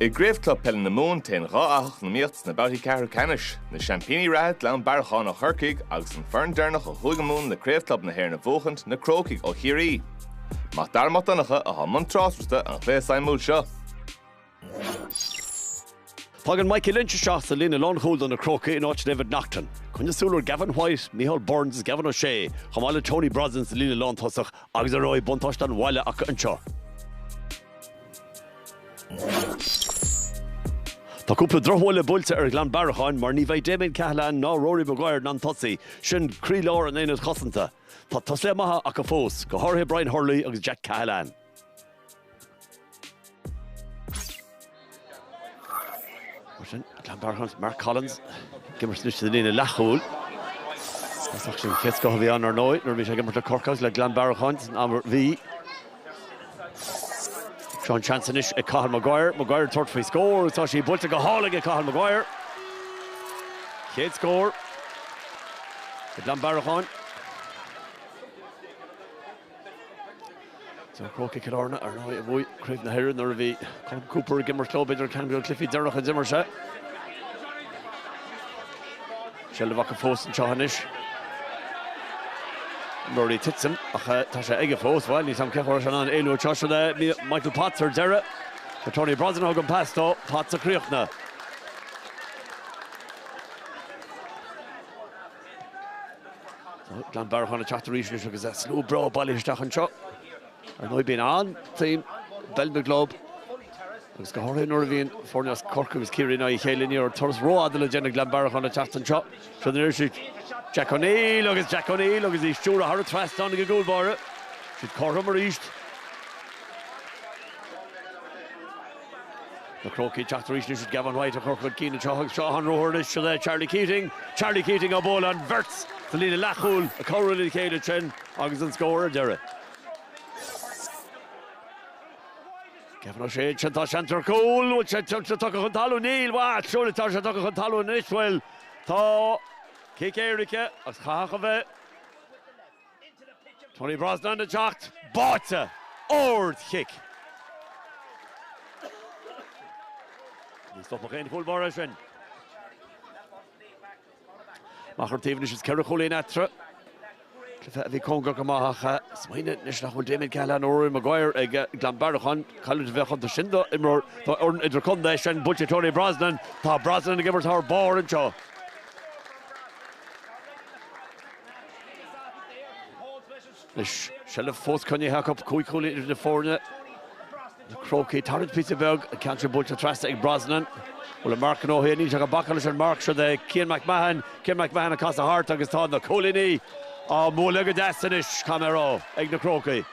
I gCraobh Club Peile na Mumhan téann dhá fhathach na himeartha sna babhtaí ceathrú ceannais. Na seaimpíní reatha, Gleann Bhearracháin ó Chorcaigh, agus an foireann deireanach ó Chúige Mumhan le Craobh Club na hÉireann a bhuachaint, na Crócaigh ó Chiarraí. Mac Dara Mac Donncha a bhí i mbun tráchtaireachta an chluiche suimiúil seo. Tagann Michael Lynch isteach sa líne lánchúil do na Crócaigh in áit David Naughton. Coinnigh súil ar Gavin White, Micheál Burns is Gavin O'Shea chomh maith le Tony Brosnan sa líne lántosach agus ar ndóigh buntáiste an bhaile acu anseo. Tá cúpla drochbhuille buailte ar Ghleann Bhearracháin mar ní bheidh Damien Cahalane ná Rory Maguire in ann tosaigh, sin croílár an aonaid chosanta. Tá tosaithe maithe acu fós, go háirithe Brian Hurley agus Jack Cahalane. Sin Gleann Bhearracháin, Mark Collins, ag imirt anois sa líne leathchúil. Tosach den chéad scoth a bhí ann ar ndóigh nuair a bhí sé ag imirt le Corcaigh agus le Gleann Bhearracháin san am a bhí. Sean seans anois ag Cathal Maguire, Maguire ag tabhairt faoi scór agus tá sí buailte go hálainn ag Cathal Maguire. Chéad scór do Gleann Bhearracháin. Seo Crócaigh Cill Airne ar ndóigh a bhuaigh Craobh na hÉireann nuair a bhí Colm Cooper ag imirt leo, b'fhéidir ceann de na cluichí deireanacha a d'imir sé. Seilbh acu fós anseo anois. Murphy ag titim ach eh, tá sé aige fós bhil níos an ceir se an éú te le eh, Michael Potts ar deireadh Tá Tony Brosnan fágtha ann, pas dó, Potts ag críochnú. Gleann Bhearracháin ag teacht arís anois agus slua breá bailithe isteach anseo. Ar ndóigh bíonn an-tsuim i bpeil na gclub agus go háirithe nuair a bhíonn foirne as Corcaigh agus Ciarraí in aghaidh a chéile. Ní raibh turas rófhada le déanamh ag Gleann Bhearracháin ag teacht anseo. Seo ruathar anois ag, Jack O'Neill agus Jack O'Neill agus í stiúrtha aige thar an trasnán. Tháinig an cúl báire siad cothrom arís. Na Crócaigh ag teacht arís anois is Gavin White á cur chun cinn anseo agus seo an ruathar anois le Charlie Keating. Charlie Keating á bualadh an bheirt sa líne leathchúil ag cabhrú lena chéile ansin agus an scór ar deireadh. Gavin O'Shea ansin, tá seans ar chúl, bhfuil sé tuillte tugtha chun talún? Níl, bhail, siúráilte tá sé tugtha chun talún anois, bhuel, tá cic éirice agus chaithfeadh a bheith. Tony Brosnan ag teacht, báite! Ard chic! Ní stopfadh aon chúl báire é sin. Amach ar a thaobh anois is ceithre chúilín eatarthu. Cluiche a bhí cóngarach go maith ach smaoinigh anois nach bhfuil Damien Cahalane nó Rory Maguire ag Gleann Bhearracháin. Cailliúint a bheadh iontu sin do imreoir do fhoireann idirchontae. Sin buailte ag Tony Brosnan. Tá Brosnan ag imirt thar barr anseo. Anois seilbh fós coinnithe acu, cúig chúilín idir na foirne. Na Crócaigh ag tarraingt píosa beag, an ceann sin buailte trasna ag Brosnan. Bhuel an marc gnóthaithe, níl sé ag bacadh leis an marc seo é Cian McMahon. Cian McMahon ag casadh thart agus tá na cúilíní á mbualadh go deas anois, Conor Ó, ag na Crócaigh.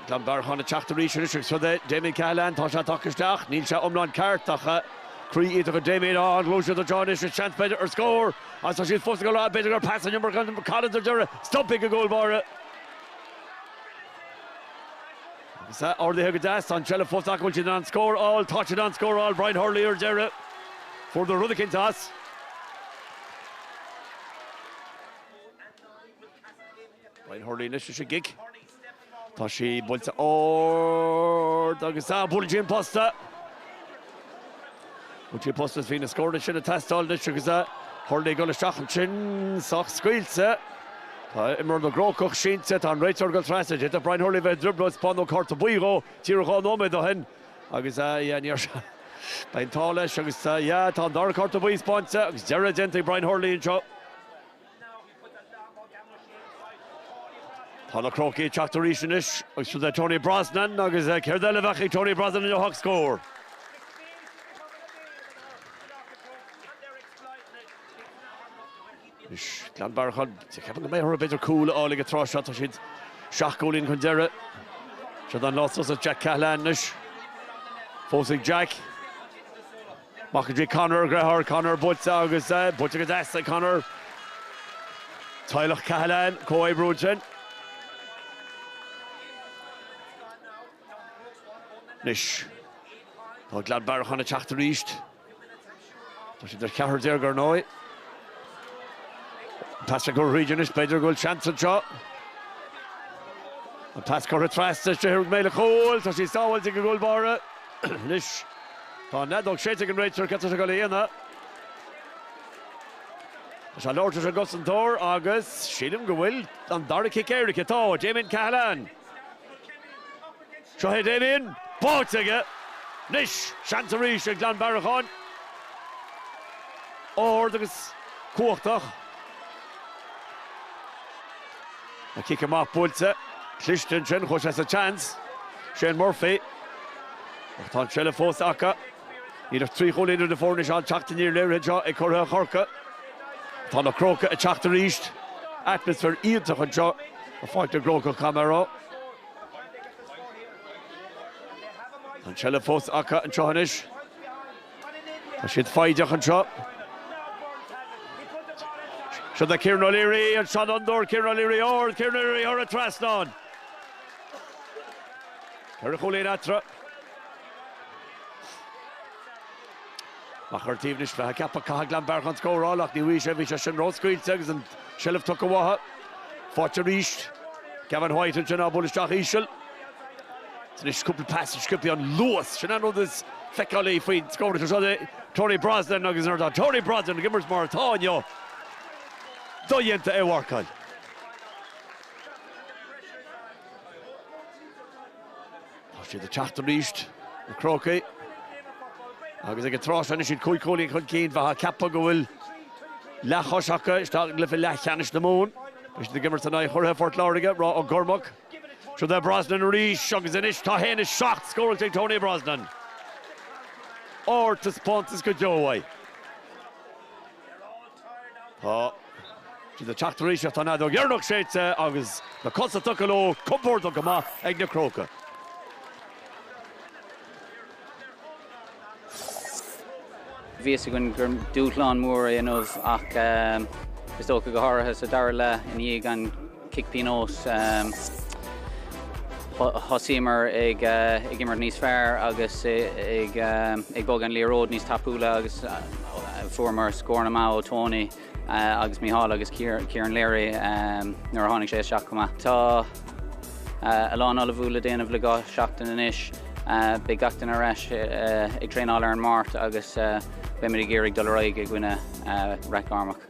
Gleann Bearcháin ag teacht arís anois agus siúd é Damien Cahalane, tá sé tagtha isteach, níl sé iomlán ceart ach croí iontach ag Damien, á an ghluaiseacht ag dul chun cinn anois is seans b'fhéidir ar scór agus tá siad fós ag rá b'fhéidir gur pas in iomarca ó Mark Collins ar deireadh, stoptha ag an gcúl báire. Agus é ardaithe go deas aige, tá an tseilbh fós acu, an bhfuil siad in ann scór a fháil, tá siad in ann scór a fháil, Brian Hurley ar deireadh, fuaireadar rud eicínt as. Brian Hurley anois leis an gcic. Tá sí buailte ard agus bhuail sí an posta. Bhuail sí an posta bhí na scórtha sin ag teastáil anois agus a Hurley ag gabháil isteach ansin sonc scaoilte. Tá imreoir na gCrócach sínte, tá an réiteoir ag gabháil trasna. D'fhéadfadh Brian Hurley a bheith i dtrioblóid spáineadh cárta buí dhó díreach dhá nóiméad ó shin agus a yeah níor sheas an t-ádh leis agus a yeah tá an dara cárta buí spáinte agus a dheireadh déanta ag Brian Hurley anseo. Tá na Crócaigh ag teacht arís anois agus sin é Tony Brosnan agus céard eile a bheadh ag Tony Brosnan inniu ach scór. Anois Gleann Bearcháin, is ceapaim go mbeidh orthu b'fhéidir cúl a fháil ag an tráth seo, tá siad seacht gcúilín chun deiridh. Seo dán a las suas Jack Cahalane anois. Fós ag Jack. Amach go dtí Conor a dheartháir, Conor buaite agus buaite go deas ag Conor. Teaghlach Cahalane ag comhoibriú ansin. Anois tá Gleann Bearcháin ag teacht arís. Tá siad ar cheathrar déag ar ndóigh. An pas curtha thríd anois, b'fhéidir go bhfuil seans anseo. An pas curtha trasna, is féidir go mbeidh sé ina chúl, tá sí sábháilte ag an gcúl báire. Anois. Tá an fheadóg séidte ag an réiteoir céard atá sé ag gabháil a dhéanamh. Tá sé ag labhairt leis an gcosantóir agus sílim go bhfuil an dara cic éirice. Tá, Damien Cahalane. Seo é Damien. Báite aige. Anois seans arís ag Gleann Bearcháin. Ard agus cumhachtach. An cic amach buailte, cliste ansin, chuaigh sé sa seans. Shane Murphy. Ach tá an tseilbh fós acu. Níl ach trí chúilín idir na foirne anois an teacht aniar léirithe anseo ag curaidh Chorcaí. Tá na Crócaigh ag teacht arís. Atmaisféar iontach anseo i bPáirc na gCrócach Conor Ó. Tá an tseilbh fós acu anseo anois. Tá siad foighdeach anseo. Seo do Kieran O'Leary, an seanfhondúir Kieran O'Leary ard, Kieran O'Leary thar an trasnán. Ceithre chúilín eatarthu. Amach ar an taobh anois, bheifeá ag ceapadh, caithfidh Gleann Bearcháin scóráil ach ní raibh sé, bhí sé sin ró-scaoilte agus an seilbh tugtha uathu. Faighte arís. Gavin White ansin á bualadh isteach íseal. Anois cúpla pas sciobtha an luas, sin an rud is feiceálaí faoin scór cosúil le Tony Brosnan agus nuair atá Tony Brosnan ag imirt mar atá inniu, dodhéanta é a mharcáil. Tá siad ag teacht arís, na Crócaigh, agus ag an tráth sin is iad cúig chúilín chun cinn bheifeá ag ceapadh go bhfuil leathchois acu isteach i gcluiche leathcheannais na Mumhan. Tá siad ag imirt in aghaidh churaidh Phort Láirge, Ráth Ó gCormaic. Seo do Brosnan arís agus anois tá 1, 7 scóráilte ag Tony Brosnan. Ardtaispeántas go deo uaidh. Tá siad ag teacht arís ach tá an fheadóg dheireanach séidte agus na cosa tugtha leo, compordach go maith ag na Crócaigh. Bhí a fhios againn gur dúshlán mór é inniu ach is dócha go háirithe sa dara leath i ndiaidh an chic pionós thosaíomar ag imirt níos fearr agus ag bogadh an liathróid níos tapúla agus fuaireamar scóranna maithe ó Tony. agus Micheál agus Kieran Leary nuair a tháinig sé isteach chomh maith. Tá a lán ullmhú le déanamh le dhá seachtain anois. Beidh gach duine ar ais ag traenáil ar an Máirt agus beimid ag iarraidh dul ar aghaidh i gcoinne Rathgormack.